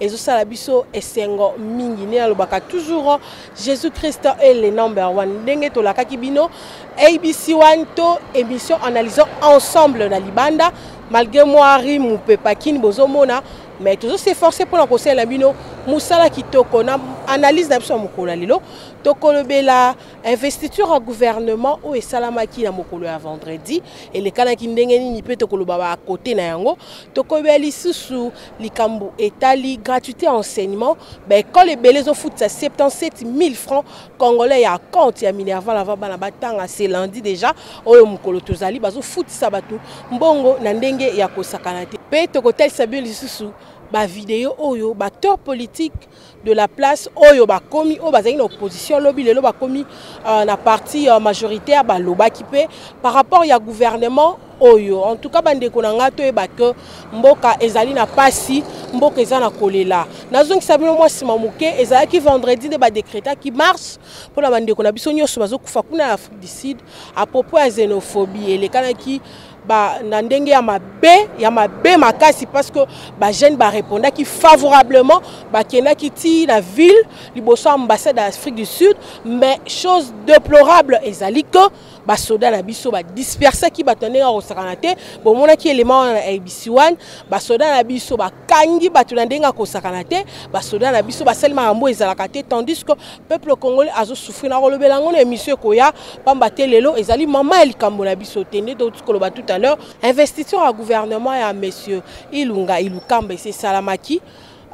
ezosala biso esengo mingi nde nalobaka toujours jésus christ est le number one ndenge tolakaki bino abc one to émission analysant ensemble na libanda malgré mwa rimu mpe pakini bozomona mais tozo s'efforce mpona kosalela bino mosala kitoko na analyse na biso ya mokolo ya lelo tokolobela investiture ya gouvernement oyo esalamaki na mokolo ya vendredi elekanaki ndenge nini mpe tokoloba bakote na yango tokolobela lisusu likambo etali gratuité ya enseignement baekole ebele ezofutisa 77 000 francs congolais ya compte ya minerval avant bana batanga se lundi déjà oyo mokolo tozali bazofutisa bato mbongo na ndenge ya kosakana te mpe tokotalisa bino lisusu bavideo oyo baacteur politique de la place oyo bakomi oyo bazali na opposition lobi lelo bakomi uh, na parti uh, majoritaire balobaki mpe par rapport ya gouvernement oyo en tout cas bandeko na ngai toyeba ke mboka ezali na pasi mboka eza na kolela nazongisa bino mwa nsima moke ezalaki vendredi nde badekretaki marche mpo na bandeko na biso nyonso bazokufa kuna na afrique du sud apropos ya xenophobie elekanaki ba na ndenge ya mabe ya mabe makasi parce que ba jeune ba répondaki favorablement ba kendaki ti na ville liboso ambassade d'Afrique du Sud mais chose déplorable ezali que ba soda na biso ba dispersaki ba tande na kosakana te bomona ki élément na ABC1 ba soda na biso ba kangi bato na ndenge akosakana te basoda na biso basali makambo ezalaka te tandis que peuple congolais azosouffrir nakolobela yango na émission ekoya mpamba te lelo ezali mama ya likambo na biso te nde touti koloba tout à l'heure investiture ya gouvernement ya monsieur ilunga ilukamba esi esalamaki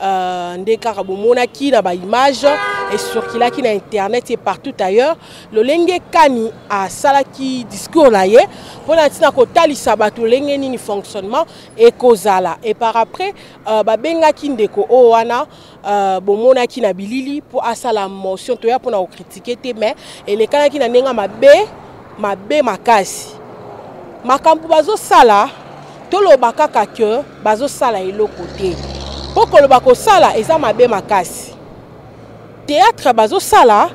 Euh, nde kaka bomonaki na baimage esurkilaki na internet e partout ailleurs lolenge kani asalaki discours na ye mpo na ntina kotalisa bato lolenge nini fonctionnement ekozala et par après euh, babengaki ndeko oyo wana euh, bomonaki na bilili mpo asala motion toya mpona kokritike te mais elekanaki na ndenge mabe mabe makasi makambo bazosala toloba kaka ke bazosala eloko te mpo koloba kosala eza mabe makasi théâtre bazosala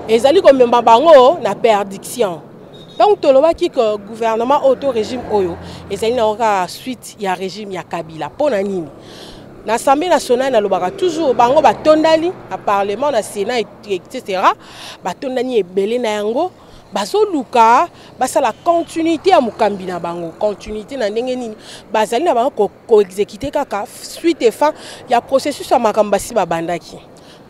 ezali komema bango na perdiction ntango tolobaki ke gouvernement oyo to régime oyo ezali na kaka suite ya régime ya kabila mpo na nini na assemblée nationale nalobaka toujours bango batondani na parlement na sénat etc batondani ebele na yango bazoluka basala continuité ya mokambi na bango continuité na ndenge nini bazali na bango koexekite ko kaka suite efan ya processus ya makambo basi babandaki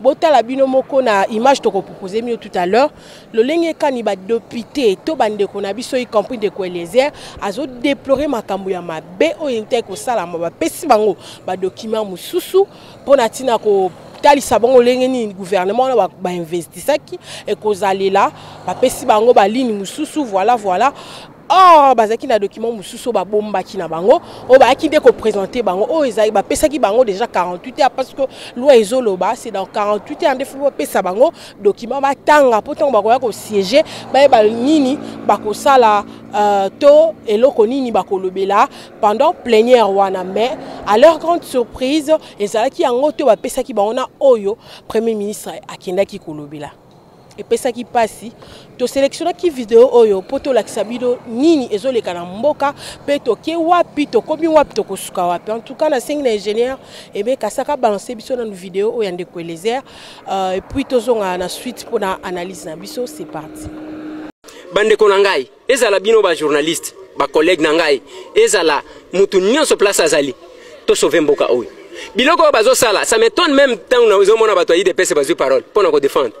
botala bino moko na image tokopropose mino tout à l'heure lolenge kani badepute to bandeko na biso y compris ndeko eliezer azodeplore makambo ya mabe oyo eutaki kosalama bapesi bango badocument mosusu mpo na ntina ko kotalisa bango lolenge nini gouvernement wana bainvestisaki ekozalela bapesi bango baline mosusu voilà voilà or bazalaki na document mosusu oyo babombaki na bango oyo bayaki nde kopresente bango oyo ezali bapesaki bango déjà 48 heures parce que loi ezoloba c'est dans 48 heures nde fo bapesa bango document batanga mpo ntango bakoya kosiége bayeba nini bakosala uh, to eloko nini bakolobela pendant plenière wana mais à leur grande surprise ezalaki yango te bapesaki bango na oyo premier ministre akendaki kolobela epesaki mpasi toselektionaki video oyo mpo tolakisa bino nini ezoleka na mboka mpe toke wapi tokomi wapi tokosuka wapi en tout cas nasengi na ingénieur ebe kasaka abalanse biso nanu video oyo ya ndeko elezer uh, epuis tozonga na suite mpo na analyse na biso c'est parti bandeko na ngai ezala bino ba journaliste ba collègue na ngai ezala mutu nyonso place azali to sauver mboka oyo biloko oyo bazosala ça m'étonne même ntango nazomona bato ya idps bazwi parole mpo na kodefendre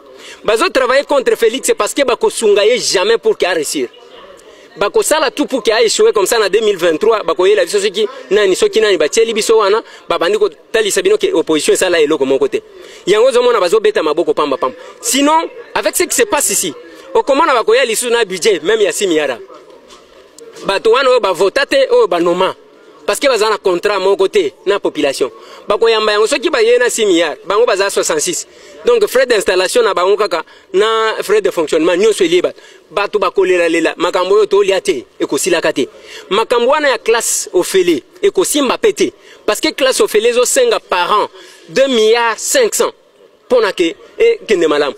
bazotravaille contre félix parce que bakosunga ye jamais pour ke aresir bakosala tout pour ke aechoue comme ça na 2023 bakoyela biso soki nani soki nani batieli biso wana babandi talisa bino ke opposition esala eloko moko te yango ozomona bazobeta maboko pamba pamba sinon avec ce qui se passe ici okomona bakoya lisusu na budget meme ya simiara bato wana oyo bavota te oyo banoma parce que baza na contrat moko te na population bakoyamba yango soki baye na 6 milliards bango baza 66 donc frais d'installation na bango kaka na frais de fonctionnement nyonso elie bato bato bakolelalela makambo oyo tolia te ekosilaka te makambo wana ya classe ofele ekosimba mpe te parce que classe ofele ezosenga parent 2 milliards 500 mpo na ke ekende malamu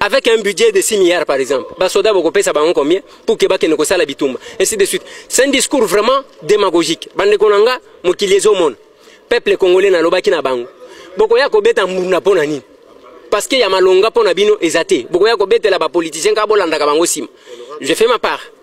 avec un budget de 6 milliards par exemple basoda bokopesa bango combien pour ke bakende kosala bitumba ainsi de suite c'est un discours vraiment démagogique bandeko na nga mokili ezomona peuple congolais nalobaki na bango bokoya kobeta mbunda mpo na nini parce que ya malonga mpo na bino eza te bokoya kobetela bapoliticien kaka bolandaka bango nsima je fais ma part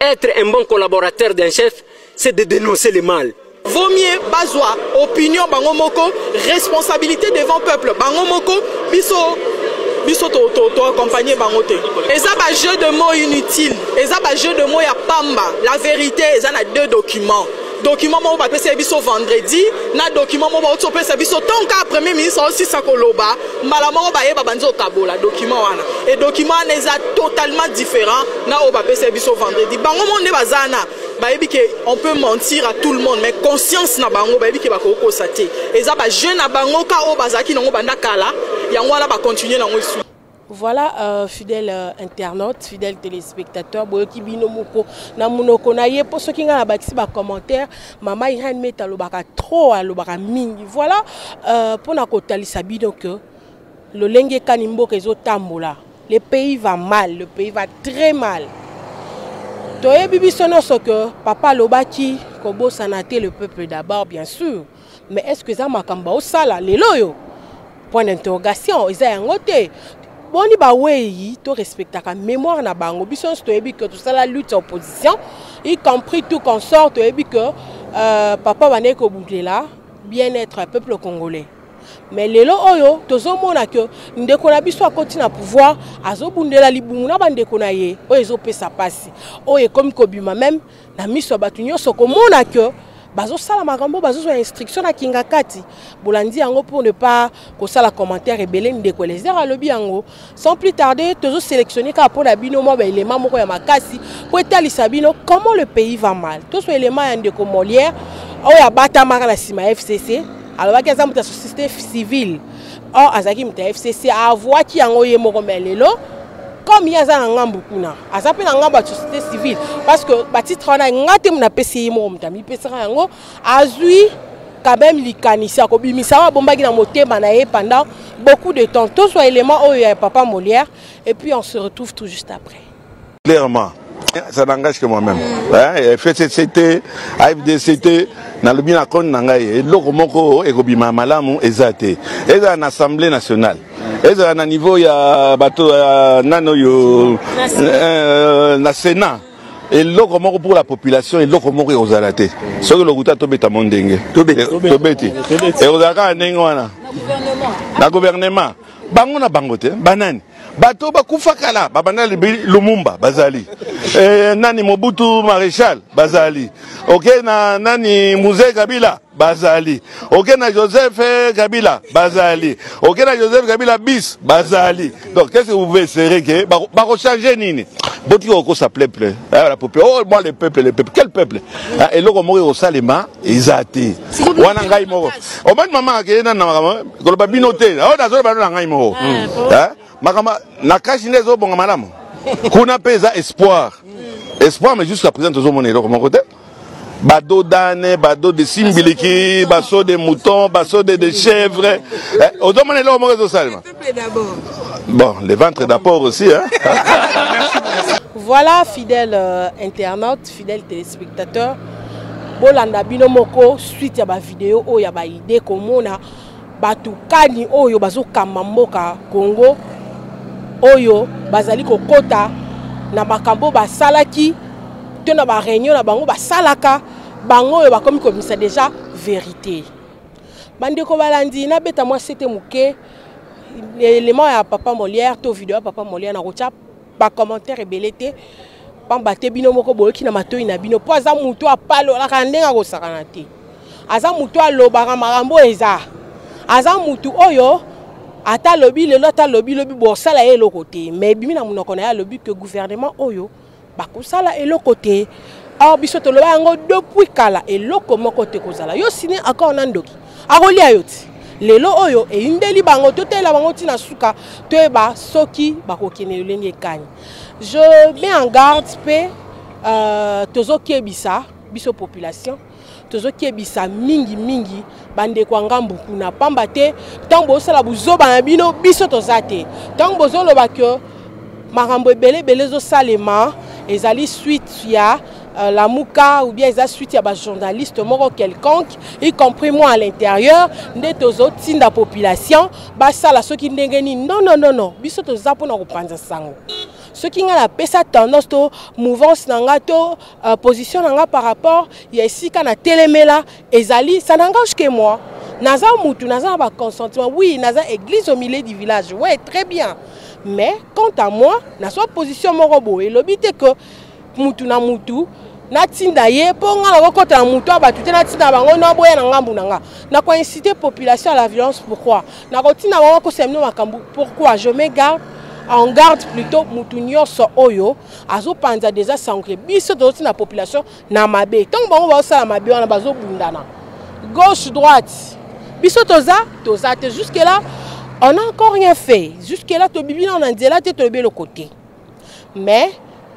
Être un bon collaborateur d'un chef, c'est de dénoncer le mal. Vaut mieux bazwa opinion bango moko, responsabilité devant peuple bango moko, biso biso to to to accompagner bango te. Eza ba jeu de mots inutile, eza ba jeu de mots ya pamba. La vérité eza na deux documents. document moko bapesaki biso vendredi na document moko bauti opesa biso ntongo kaka premier ministre aosisa koloba mbala moko baye babandi okabola document wana e document wana eza totalement différent na oyo bapesaki biso vendredi bango moko nde baza wana bayebi ke on peut mentir à tout le monde mais conscience na bango bayebi ke bakoki kosa te eza bajeune na bango ka oyo bazalaki nango banda kala yango wana bacontinue nango esu Voilà euh, fidèle euh, internaute, fidèle téléspectateur, boyoki bino moko na munoko na ye po soki nga na bakisi ba commentaire, mama Irène Meta lobaka trop alobaka mingi. Voilà euh, po na kotalisa bino que lolenge kani mboka ezo tambola. Le pays va mal, le pays va très mal. Toyebi biso nyonso que papa alobaki kobosana te le peuple d'abord bien sûr. mais est ce que eza makambo baosala lelo oyo point d'interrogation eza yango te boni bawei torespectaka mémoire na bango biso nyonso toyebi ke tosala lutte ya opposition y compris tout consort toyebi ke euh, papa bandeki kobundela bien être ya peuple congolais mais lelo oyo tozomona ke ndeko na biso akoti na pouvoir azobundela libumu na bandeko na ye oyo ezopesa mpasi oyo ekomi kobima meme na miso ya bato nyonso komona ke bazosala makambo bazozwa instruction na kingakati bolandi yango pour ne pas kosala commentaire ebele ndeko elezer alobi yango sans plus tarder tozoselectionne kaka mpo na bino mwa baelema moko ya makasi mpo etalisa bino comment le pays va mal tozwa elema ya ndeko molière oyo abatamaka na nsima ya fcc alobaki aza moto ya société civile or azalaki moto ya fcc avuaki yango ye moko me lelo comme ye aza na ngambo kuna aza mpe na ngambo ya société civile parce que batitre wana nga te napesi ye moko moto amipesaka yango azwi quand même likanisi akobimisa oyo abombaki na motema na ye pendant beaucoup de temps tozwa élément oyo ya papa molière et puis on se retrouve tout juste après clairement ça n'engage que moi-même eh, fcct afdct nalobi na koni na ngai eloko moko ekobima malamu eza te ezala na assemblée nationale ezala na niveau ya bato ya nani oyo eh, na sénat eloko moko pour la population eloko moko ekozala te soki lokuta tobeta mo ndenge tobeti ekozala kaka ndenge wana na gouvernement bango na bango te banani bato oyo bakufa kala babanda libi lumumba bazali e, nani mobutu maréchal bazali oke na nani muse kabila bazali oke na joseph eh, kabila bazali oke na joseph kabila bis bazali donc qu'est ce que vous pouvez serrer ke bakochange nini botika kokosa peuple la peuple oh moi le peuple le peuple quel peuple eloko moko ekosalema eza te wana ngai moko omani mama akeye nani na makambo koloba bino te oyo oh, nazoloba no na ngai moko eh, eh, makambo na kashi nde ezobonga malamu kuna mpe eza espoir espoir mais jusqu'à présent tozomona eloko moko te bado dane bado de simbiliki baso de mouton baso de de chèvre eh, ozomona eloko moko ezosalema bon le ventre d'apport aussi hein? voilà fidèle euh, internaute Fidèle téléspectateur, bolanda bino moko suite ya ba vidéo oyo ya ba idée komona bato kani oyo bazokamba mboka Congo oyo bazali kokota na makambo basalaki to na ba réunion na bango basalaka bango oyo bakomi kobimisa déjà vérité. Bandeko balandi nabeta mwa sete moke element ya papa Molière to video ya papa Molière na kotia ba commentaire ebele te pamba te bino moko boyoki na matoi na bino mpo aza motu apalolaka ndenge akosakana te aza motu alobaka makambo oyo eza aza motu oyo ata alobi lelo ata alobi lobi bosala ye eloko te mais ebimi na monoko na ye alobi ke gouvernement oyo bakosala eloko te or biso toloba yango depuis kala eloko moko te kozala yo sini accord na ndoki akolia yo ti lelo oyo eyindeli bango totalela bango ti na suka toyeba soki bakokende lolenge ekani je mets en garde mpe euh, tozokebisa biso population tozokebisa mingi mingi bandeko ya ngambo kuna pamba te ntango bozosala buzoba na bino biso toza te ntango bozoloba ke makambo ebele ebele ezosalema ezali suite ya Euh, lamuka ou bien eza suite ya bajournaliste moko quelconque y compris moi à l'intérieur nde tozotinda population basala soki ndenge nini non non non non biso toza mpona kopanza sango soki ngai napesa tendance to mouvance na ngai to uh, position na ngai par rapport ya esika na telemela ezali ça n'engage que moi naza mutu naza na baconsentement oui naza église au milieu du village ouais très bien mais quant à moi nazwa position moko boye elobi te que mutu na mutu natinda ye mpo ngai nakokota na moto ya bato te natinda bango naboya na ngambo na ngai nakoincite population à la violence pourquoi nakotinda bango akosa bino makambo pourquoi je me garde en garde plutôt moto nyonso oyo azopanza deja sango ke biso tozotinda population na mabe ntango bango bazosala mabe wana bazobundana gauche droite biso toza toza te jusque là on a encore rien fait jusque là tobibi nao na nzela te tolobi eloko te mais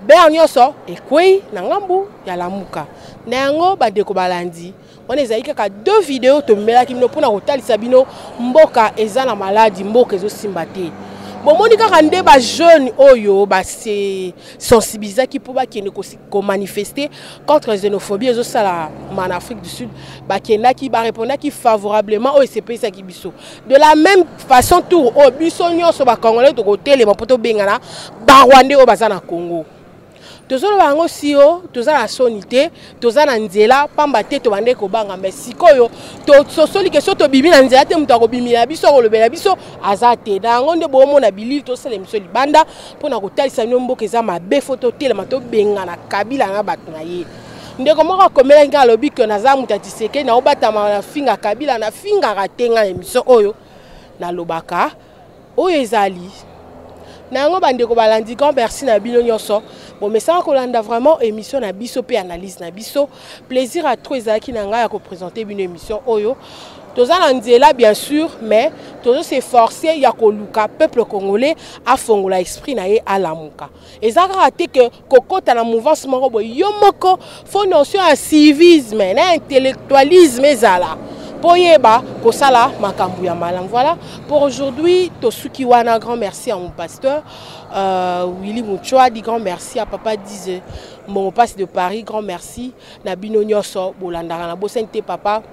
bea nyonso ekwei na ngambu ya lamuka na yango bandeko balandi wana ezali kaka deux video tomelaki bino mpona kotalisa bino mboka eza na maladi mboka ezosimba te bomoni kaka nde bajeune oyo base sensibilisaki mpo bakende komanifeste contre xénophobie ezosalama na afrique du sud bakendaki barepondaki favorablement oyo esepelisaki biso de la même façon tour oyo biso nyonso bacongolais tokotelema mpo tobengana barwande oyo baza na congo tozoloba yango sio toza na soni te toza na nzela mpamba te tobandaki kobanga mai sikoyo tososoli ke so tobimi na nzela te moto akobimila biso akolobela biso aza te na yango nde boomona bilili tosala biso libanda mpo na kotalisa bino mboka eza mabe fo totelema tobengana kabila na bato na ye ndeko moko akomelaki ngai alobi ke naza moto ya tisekei naobatama na finga kabila nafingaka te ngai na emission oyo nalobaka oyo ezali na yango bandeko balandi grand merci na bino nyonso bomesaka kolanda vraiment émission na biso mpe analyse na biso plaisir à trop ezalaki na ngai ya kopresente bino émission oyo toza na nzela bien sûr mais tozo se forcer ya koluka peuple congolais afongola esprit na ye alamuka eza kaka te ke kokota na mouvance moko boye yo moko fo notion ya civisme na intellectualisme ezala mpo oyeba kosala makambo ya malamu voilà pour aujourd'hui tosuki wana grand merci à mon pasteur euh, willy muchwadi grand merci à papa dise mbongo mpasi de paris grand merci na bino nyonso bolandaka na bosani te papa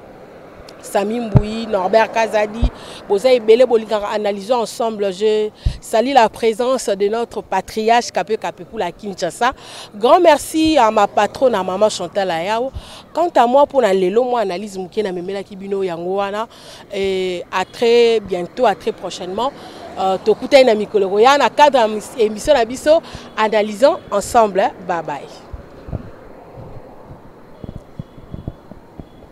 Sami Mbouyi, Norbert Kazadi, Boza Ebele Bolingara, analysons ensemble. Je salue la présence de notre patriarche Kape Kape pour la Kinshasa. Grand merci à ma patronne, à maman Chantal Ayao. Quant à moi, pour la Lelo, moi, analyse Mouké na Memela Kibino Yangoana. Et à très bientôt, à très prochainement. Euh, Tokuta na mikolo koya na cadre émission na biso analysons ensemble bye bye